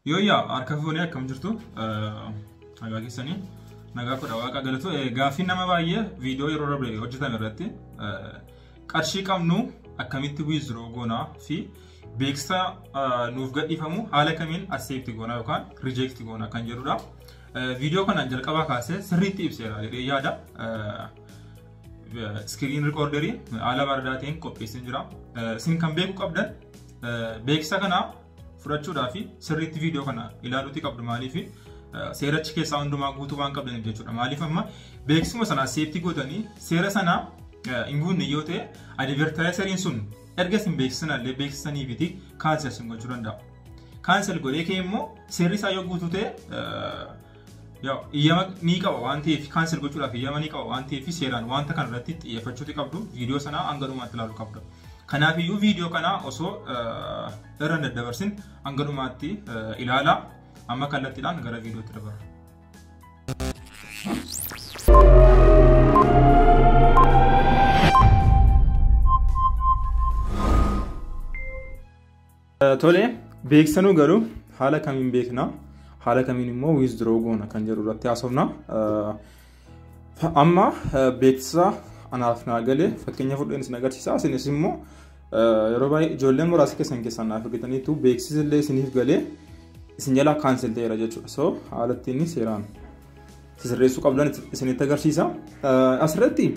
Yooyyaa harka fuunee akkam jirtu nagaa keessanii nagaa kudha waaqa galatu gaaffiin nama baay'ee viidiyoo yeroo darbe hojjetame irratti qarshii qabnu akkamitti wiiziroo goonaa fi beeksisa nuuf gadhiifamu haala kamiin asseepti goonaa yookaan rijeekti goonaa kan jedhudha. Viidiyoo kana jalqabaa kaasee sirriitti ibseera jedhee yaada. Iskiriin rikoorderii haala bareedaa ta'een qopheessee jira. Isin kan beekuu qabdan beeksisa kana fudhachuudhaa fi sirriitti viidiyoo kana ilaaluutii qabdu maaliif seerachi keessaa hundumaa guutuu waan qabdaniif jechuudha. Maaliif amma beeksisuma sana seeftii gootanii seera sana hin guunne yoo ta'e adivertaayisariin sun erga isin beeksisan illee beeksisanii fi kaansel isin gochuu danda'a. Kaansel godhee kee immoo seerri isaa yoo guutuu ta'e Yaa'u iyyama ni qaba waan ta'eef kaansel gochuudhaaf iyyama ni qaba waan ta'eef seeraan wanta kana irratti xiyyeeffachuuti qabdu viidiyoo sanaa hanga dhumaatti ilaaluu qabdu. Kanaaf iyyuu viidiyoo kana osoo irra hin daddabarsin hanga dhumaatti ilaalaa amma kallattiidhaan gara viidiyootti dabarra. Tole beeksanuu garuu haala kamiin beekna haala kamiin immoo withdraw goona kan jedhu irratti haasofna. Amma beeksisa anaaf naa galee fakkeenya fudheen isin agarsiisa isinis immoo yeroo baay'ee ijoolleen muraasa keessan keessaan naaf argitaniitu beeksisni illee isiniif galee isin jalaa kaansel ta'eera jechuudha. So haala ittiin seeraan sirreessuu qabdan isinitti agarsiisa. Asirratti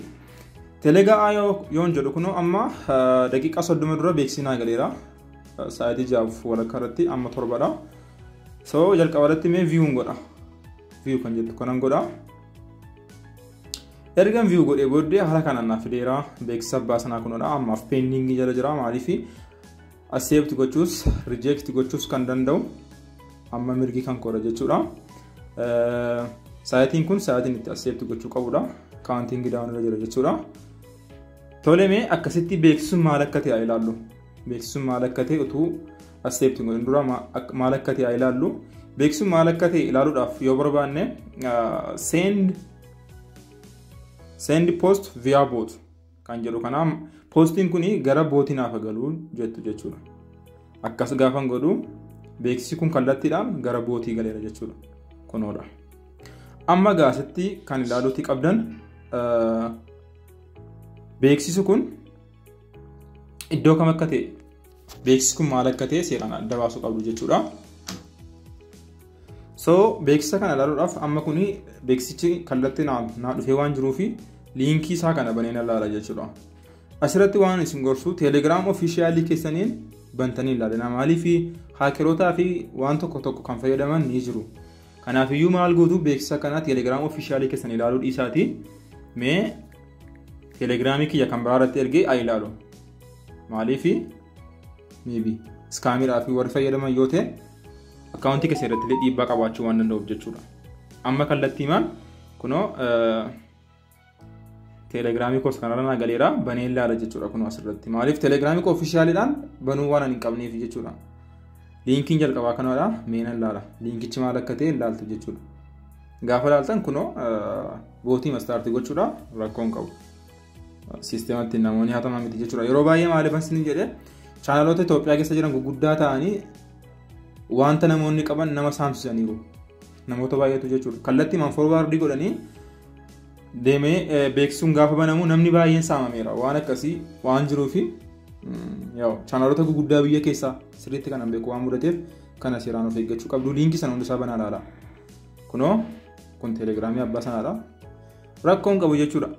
telegaa yoon jedhu kunoo amma daqiiqaa soddoma dura beeksisaa galeera. Sa'aatii jahaaf walakkaa irratti amma torbadha. So jalqaba irratti mee viyuun godha. Viyuu kan jettu kanan godha. Ergan viyuu godhee booddee haala kanaan naaf fideera. Beeksisa abbaa sanaa kunodha. Ammaaf peendingii jala jira maaliif Accept gochuus reject gochuus kan danda'u amma mirgi kan koodha jechuudha. Saayitiin kun saayitiin itti accept gochuu qabudha. Counting down irra jira jechuudha. Tole mee akkasitti beeksisuun maal akka ta'e ilaallu. Beeksisuun maal akka ta'e utuu accept godhin dura maal akka ta'e ilaallu. Beeksisuun maal akka ta'e ilaaluudhaaf yoo barbaanne send send post via bot kan jedhu kana poostiin kun gara bootii naaf galuu jettu jechuudha. Akkas gaafan godhu beeksisi kun kallattiidhaan gara bootii galeera jechuudha. Kunoodha. Amma gaasitti kan ilaaluutti qabdan beeksisi kun iddoo kam akka ta'e Beeksisi kun maal akka ta'e seeraan adda baasuu qabdu jechuudha. So beeksisa kana ilaaluudhaaf amma kun beeksichi kallattii naa dhufee waan jiruu fi liinkii isaa kana baneen ilaala jechuudha. Asirratti waan isin gorsu teelegiraam ofiishiyaalii keessaniin bantanii ilaalina maaliif haakerootaa fi waan tokko tokko kan fayyadaman ni jiru. Kanaafiyyuu maal gootu beeksisa kana teelegiraam ofiishiyaalii keessan ilaaluu dhiisaati mee teelegiraamii kiyya kan biraa irratti ergee haa ilaalu. Maaliifi maybe iskaamiidhaa fi warri fayyadaman yoo ta'e akkaawuntii keessa irratti illee dhiibbaa qabaachuu waan danda'uuf jechuudha. Amma kallattii maal kunoo teelegiraamii koos kanarra naa galeera banee ilaala jechuudha kunoo asirratti. Maaliif teelegiraamii koo ofishaaliidhaan banuu waan hin qabneef jechuudha. Liinkiin jalqabaa kanadha meena ilaala. Liinkichi maal akka ta'e ilaaltu jechuudha. Gaafa ilaaltan kunoo bootii mastaartii gochuudha rakkoon qabu. Siistematti namoonni hatamaa miti jechuudha. Yeroo baay'ee maaliif asii jedhe chaanaloota Itoophiyaa keessa jiran gurguddaa ta'anii wanta namoonni qaban nama saamsisaniiru. Namoota baay'eetu jechuudha. Kallattii manfoorwaardii godhanii deemee beeksisuun gaafa banamu namni baay'een saamameera. Waan akkasii waan jiruufi chaanaloota gurguddaa biyya keessaa sirriitti kanan beeku waan mudateef kana seeraan of eeggachuu qabdu. Liinkii sana hundisaa banaa ilaala. Kunoo kun teelegiraamii abbaa sanaadha. rakkoo hin qabu jechuudha.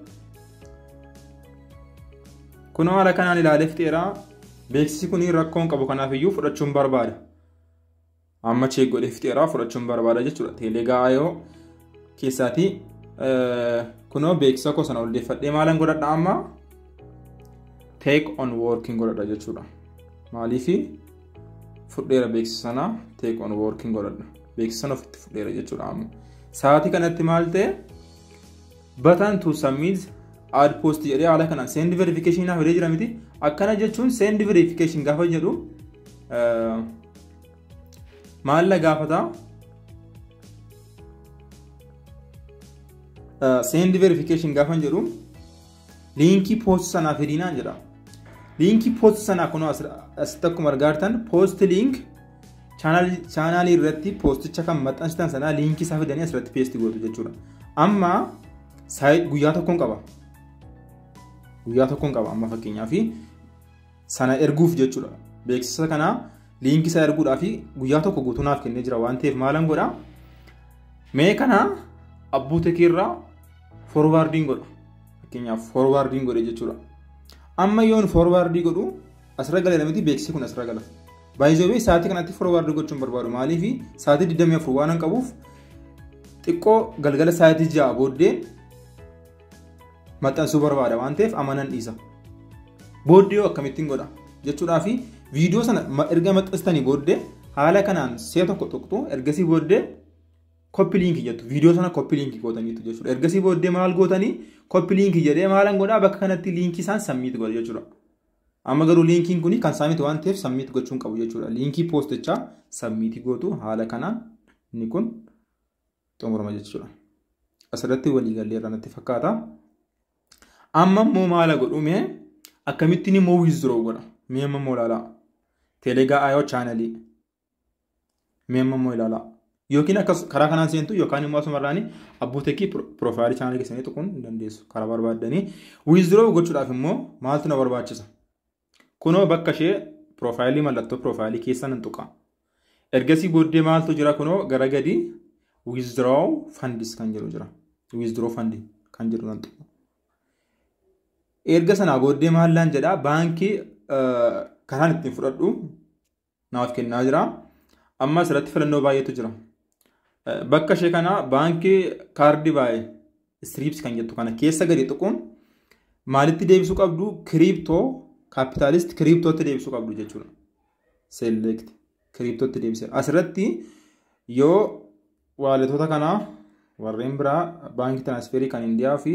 Kunoo haala kanaan ilaalee fixeeraa beeksisi kun rakkoo hin qabu kanaaf iyyuu fudhachuun barbaada. Amma cheek godhee fixeeraa fudhachuun barbaada jechuudha. Teelegaayoo keessaatii kunoo beeksisa koo sana oldeeffadhee maalan godhadha amma take on working godhadha jechuudha. Maaliifi fudheera beeksisa sana take on working godhadha beeksisa sana ofitti fudheera jechuudha amma sa'aatii kanatti maal ta'e batan to submit ad post jedhee haala kanaan send verification naaf jedhee jira miti akkana jechuun send verification gaafa jedhu maal na gaafata send verification gaafa jedhu Liinkii poost sanaa fidinaan jedha. Liinkii poost sanaa kun asitti akkuma argaartan poost liink chaanaalii irratti poosticha kan maxxansitan sanaa liinkii isaa fidanii asirratti peesti gootu jechuudha. Amma guyyaa tokkoon qaba. Guyyaa tokkoon qaba amma fakkeenyaaf sana erguuf jechuudha. Beeksisa kana liinkii isaa erguudhaa fi guyyaa tokko guutuu naaf kennee jira waan ta'eef maalan godha. Mee kana abbuu tekii irraa forwaardiin godha. Fakkeenyaaf forwaardiin godhe jechuudha. Amma yoon forwaardii godhu asirra galeera miti beeksisi kun asirra gala. Baay'ee sa'aatii kanatti forwaardii gochuun barbaadu maaliif sa'aatii 24 waan qabuuf xiqqoo galgala sa'aatii 6 booddee maxxansuu barbaada waan ta'eef amma nan dhiisa. Booddee yoo akkamittiin godha jechuudhaa fi viidiyoo sana ma- erga maxxansitanii booddee haala kanaan si'a tokko tuqxu ergasii booddee koppi liinkii jettu viidiyoo sana koppi liinkii gootaniitu jechuudha. Ergasii booddee maal gootanii koppi liinkii jedhee maalan godhaa bakka kanatti liinkii isaan sammiitu godha jechuudha. Amma garuu liinkiin kun kan saamiti waan ta'eef sammiitu gochuun qabu jechuudha. Liinkii poostichaa sammiitii gootu haala kanaan inni kun xumurama jechuudha. Asirratti walii gallee irraa natti fakkaata. Amma immoo maala godhu mee akkamittiin immoo withdraw godha mee amma immoo ilaalaa. Telegaa ayoo chaanalii mee amma immoo ilaalaa. Yookiin akkas karaa kanaan seentu yookaan immoo asuma irraanii abbuutekii piroofaayilii chaanalii keessanii tuquun ni dandeessu karaa barbaaddanii. Withdraw gochuudhaaf immoo maaltu na barbaachisa? Kunoo bakka ishee piroofaayilii mallattoo piroofaayilii keessa nan tuqa. Ergasii booddee maaltu jira kunoo gara gadi withdraw funds kan jedhu jira. Withdraw fund kan jedhu nan tuqa. Erga sanaa booddee maallaan jedhaa baankii karaan ittiin fudhadhu naaf kennaa jira. Amma asirratti filannoo baay'eetu jira. Bakka ishee kana baankii kaardii baay'ee istiriips kan jettu kana keessa gadi tuquun maalitti deebisuu qabdu kiriiptoo kaapitaalist kiriiptootti deebisuu qabdu jechuudha. Select kiriiptootti deebisee asirratti yoo waaletoota kanaa warreen biraa baankii tiraansferii kan indiyaa fi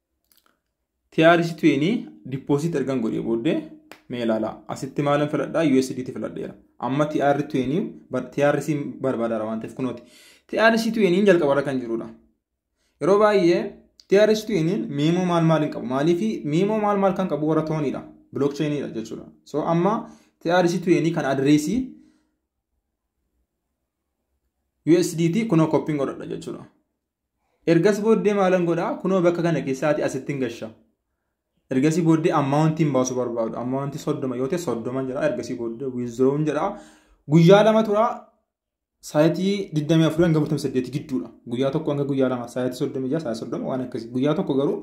TRC20 deposit ergan godhee booddee mee ilaalaa asitti maalan filadhaa USDT filadheera amma TR20 bar- TRC barbaadaara waan ta'eef kunooti TRC20 jalqabarra kan jirudha yeroo baay'ee TRC20 miimoo maal maal hin qabu maaliif miimoo maal maal kan qabu warra tooniidha blockchainidha jechuudha so amma TRC20 kan adireesii USDT kunoo koppiin godhadha jechuudha Ergas booddee maalan godha? Kunoo bakka kana keessaati asittin gasha. Ergasii booddee ammaawuntiin baasuu barbaadu. Ammaawuntii soddoma yoo ta'e soddoma jedha. Ergasii booddee wiizdiroowun jedha. Guyyaa lama tura. Saayitii 24 hanga 48 gidduudha. Guyyaa tokko hanga guyyaa lama saayitii 36 saayitii 30 waan akkasii. Guyyaa tokko garuu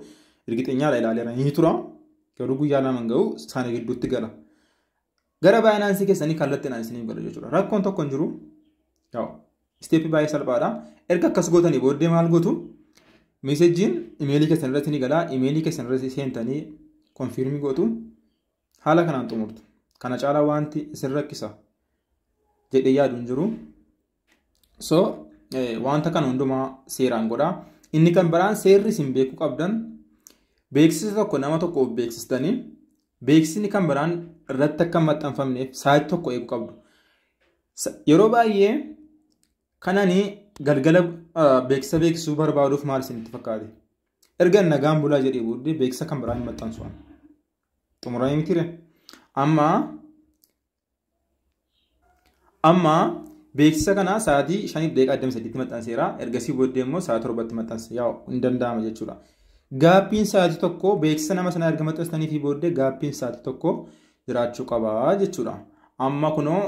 ergixeenyaadha ilaaleera ni tura. Garuu guyyaa lama hin ga'u sana gidduutti gala. Gara baayinaansii keessanii kallattiidhaan isiniif gala jechuudha. Rakkoon tokko hin jiru. Isteeppii baay'ee salphaadha. Erga akkas gootanii booddee maal gootu? Meesejjiin imeelii keessan irratti ni gala. Imeelii keessan irratti seentanii konfiirmii gootu. Haala kanaan xumurtu. Kana caalaa wanti isin rakkisa jedhee yaadu hin jiru. So wanta kana hundumaa seeraan godhaa. Inni kan biraan seerri isin beekuu qabdan beeksisa tokko nama tokkoof beeksistanii beeksisni kan biraan irratti akka maxxanfamneef saayit tokko eeguu qabdu. Yeroo baay'ee kanani galgala beeksisa beeksisuu barbaaduuf maal isinitti fakkaate? Erga nagaan bulaa jedhee booddee beeksisa kan biraan hin maxxansu. Xumuranii mitiire. Amma Amma beeksisa kana sa'aatii 5:23tti maxxanseera. Ergasii booddee immoo sa'a 7tti maxxanse. Yaa hin danda'ama jechuudha. Gaappiin sa'aatii tokko beeksisa nama sanaa erga maxxansitanii fi booddee gaappiin sa'aatii tokko jiraachuu qaba jechuudha. Amma kunoo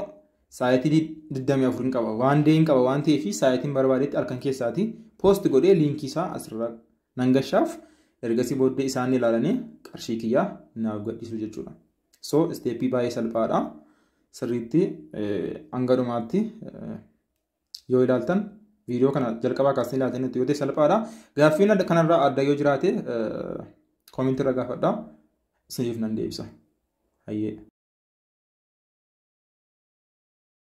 sa'aatii 24 hin qaba. Waan dee hin qaba waan ta'eef sa'aatiin barbaadetti halkan keessaati poosti godhee liinkii isaa asirra nan gashaaf. Ergasii booddee isaan ilaalanii qarshii kiyyaa naaf gadhiisu jechuudha. So isteeppii baay'ee salphaadha. Sirriitti hanga dhumaatti yoo ilaaltan viidiyoo kana jalqabaa kaasanii ilaaltan yoo ta'e salphaadha. Gaaffiin kanarraa adda yoo jiraate koomentii irra gaafadha. Isiniif nan deebisa. Hayyee.